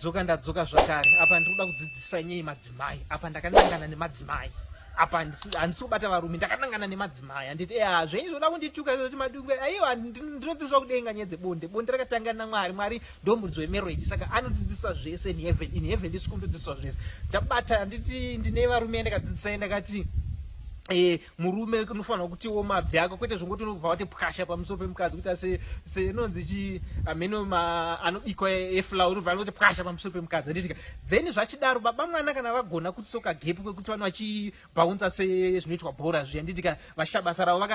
dzoka ndadzoka zvakare apa ndiri kuda kudzidzisa nyei madzimai apa ndakanangana nemadzimai apa handisi kubata varume ndakanangana nemadzimai handiti e eh, zvenyu zvoda kundituka zoti madungwe aiwa ndinodzidziswa kudenga nyaya dzebonde bonde rakatanga namwari mwari ndomuridzo wemarriage saka anodzidzisa zvese in heaven in heaven ndisi kundodzidziswa zvese ndabata handiti ndine varume yandakadzidzisai ndakati eh, murume unofanirwa kutiwo mabvi ako kwete zvongoti unobva wati pwasha pamusoro pemukadzi kuita seinonzi chi ameno anobikwa eflour unobva anoti pwasha pamusoro pemukadzi handitika then zvachidaro baba mwana kana vagona kuti soka gepu kwekuti vanhu vachibhaunza sezvinoitwa bhora zviya handitika vachiita basa ravo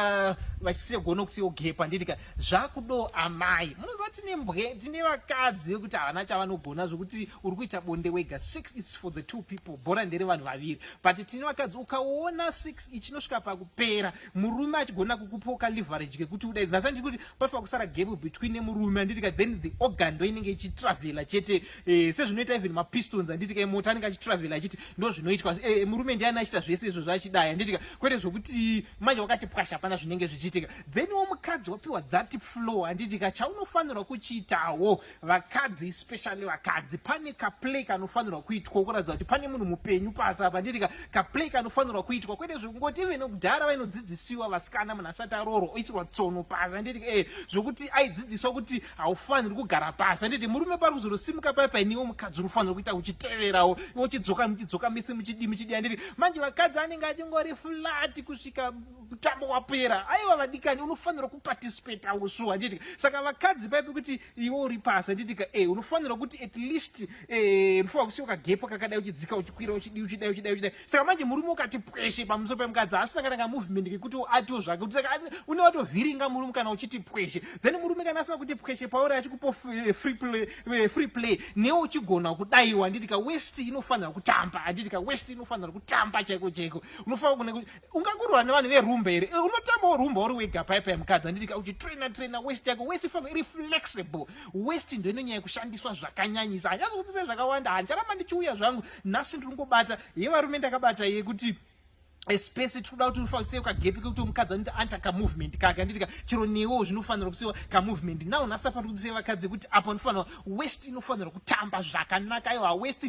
vachisiyogona kusiyawo gepu handitika zvakudo amai munoziva tine mbwe tine vakadzi vekuti havana chavanogona zvekuti uri kuita bonde wega six its for the two people bhora ndere vanhu vaviri but tine vakadzi ukaona six ichinosvika pakupera murume achigona kukupoka leverage kekuti uda that's why ndiri kuti panofanira kusara gap between nemurume anditika then the organ ndo inenge ichitravela chete eh, sezvinoita even mapistons anditika emota anenge achitravela achiti ndo zvinoitwa eh, murume ndiani achita zvese izvo zvaachidaya anditika kwete zvokuti manje wakati pwasha hapana zvinenge zvichiitika then wo mukadzi wapiwa that flow anditika chaunofanirwa kuchiitawo vakadzi especially vakadzi pane kaplay kanofanirwa kuitwa kuratidza kuti pane munhu mupenyu pasi apa ndiri kaplay kanofanirwa kuitwa kwete zvekungoti ivene kudhara vainodzidzisiwa vasikana munhu asati aroro oisirwa tsono pasi anditi e eh, zvekuti aidzidziswa kuti haufaniri kugara pasi anditi murume pari kuzorosimuka paya painiwo mukadzi unofanira kuita uchiteverawo iwo uchidzoka muchidzoka misi muchidi muchidi anditi manje vakadzi anenge achingori flati kusvika mutambo wapera aiwa vadikani unofanira kuparticipate ausu handiti saka vakadzi paipi kuti iwe uri pasi handitika e eh, unofanira kuti at least eh, unofanira kusiya kagepo kakadai uchidzika uchikwira uchidii uchidai uchidai uchidai saka manje murume ukati pweshe pamusoro pemukadzi asisangana ka movement kekuti atiwo zvake kuti saka une watovhiringa murume kana uchiti pweshe then murume kana asina kuti pweshe pauri achikupo eh, free play, free play newe uchigona kudaiwa handitika west inofanira kutamba handitika west inofanira kutamba chaiko chaiko unofanira kune ungakurwa nevanhu verumba here eh, unotambawo rumba uri wega paipa yemukadzi anditika uchitraina traina west yako west ifanira iri flexible west ndo inonyanya kushandiswa zvakanyanyisa hanyazokutisai zvakawanda handicharamba ndichiuya zvangu nhasi ndiri kungobata yevarume ndakabata yekuti especially tikuda kuti unofanira kagepi kekuti mukadzi anoita anta kamovement kake anditika chero newo zvinofanira kusiwa kamovement now nhasi apa ndikuti sevakadzi kuti apa unofanira west inofanirwa kutamba zvakanaka iwa west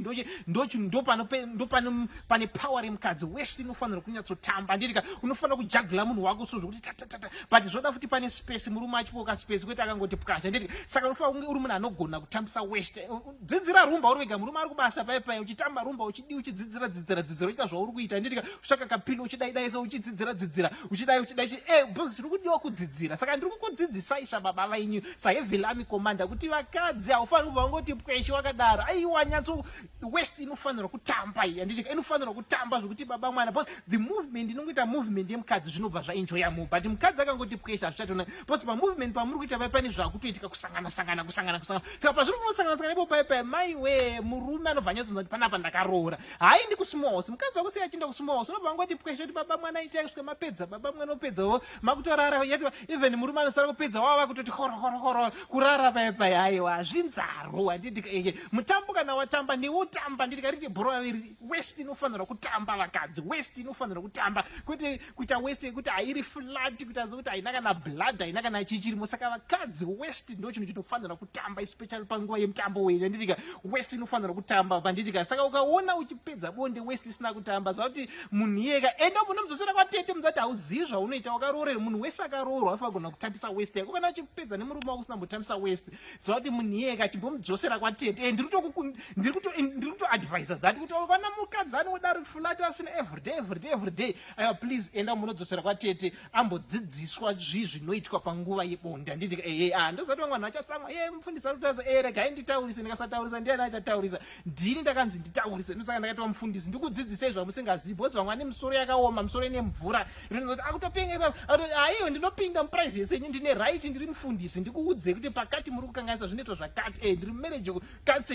ndopane power remukadzi west inofanirwa kunyatsotamba anditika unofanira kujagula munhu wako so zvokuti tatatata but zvoda futi pane space murume achipoka space kwete akangoti pwasha anditika saka unofanira kunge uri munhu anogona kutambisa west dzidzira rumba uri wega murume ari kubasa paye paye uchitamba rumba uchi Dii uchidzidzira dzidzira dzidzira uchita zvauri kuita handiti ka usvaka kapilo uchidaidaisa uchidzidzira dzidzira uchidai uchidai uchi eh bhozi tiri kudiwa kudzidzira saka ndiri kukudzidzisai sababa venyu sahevilami komanda kuti vakadzi haufaniri kubva wangoti pweshe wakadaro aiwa nyatso west inofanirwa kutamba iyi handiti ka inofanirwa kutamba zvekuti baba mwana bhozi the movement inongoita movement yemukadzi zvinobva zvaenjoya mu but mukadzi akangoti pweshe hazvichatoona bhozi pamovement pamuri kuita vai pane zvakutoitika kusangana sangana kusangana kusangana apa zviri kunosanganisana ipo pai pai mai we murume anobva anyatsonza kuti panapa ndakaroora hayi ndi kusmos mukadzi wako sei achienda kusmos unobva wangoti pweshe kuti baba mwana itai kusvika mapedza baba mwana opedzawo makutorara yati even murume anosara kupedza wava vakutoti horohorohoro kurara pai pai haiwa zvinzaro handiti eye mutambo kana watamba newotamba nditi kariti bhora riri west inofanira kutamba vakadzi west inofanira kutamba kwete kuita west yekuti hairi flat kuita zokuti haina kana blood haina kana chichirimo saka vakadzi west ndo chinhu chinofanira kutamba especially panguva yemutambo wenyu anditika west inofanira kutamba panditika saka ukaona uchipedza bonde west isina kutamba zva kuti munhu iyeka enda munomudzosera kwatete muzati hauzivi zvaunoita wakaroorera munhu wese akaroorwa afagona kutambisa west yako kana uchipedza nemurume wako usina mbotambisa west zvakuti munhiyeka achimbomudzosera kwatete eh, ndiri kutoadvisa eh, that kuti vana mukadzi anodaro fulati asina everyday everyday everyday aiwa please enda munodzosera kwatete ambodzidziswa zvii zvinoitwa panguva yebonde anditi ehe eh, a ah, ndozati vamwe vanhu vachatsamwa e mufundisi arikutaurisa e regai nditaurise ndikasataurisa ndiani achataurisa ndini ndakanzi nditaurise ndosaka ndakaitwa mufundisi ndikudzidzisei zvamusingazivi bcause vamwe vane misoro yakaoma misoro ine mvura rinoti akutopenga ipapa akuti aiwe ndinopinda muprivhesi yenyu ndine right ndiri mufundisi ndikuudzei kuti pakati muri kukanganisa zvinoitwa zvakati e ndiri mumarriage counseling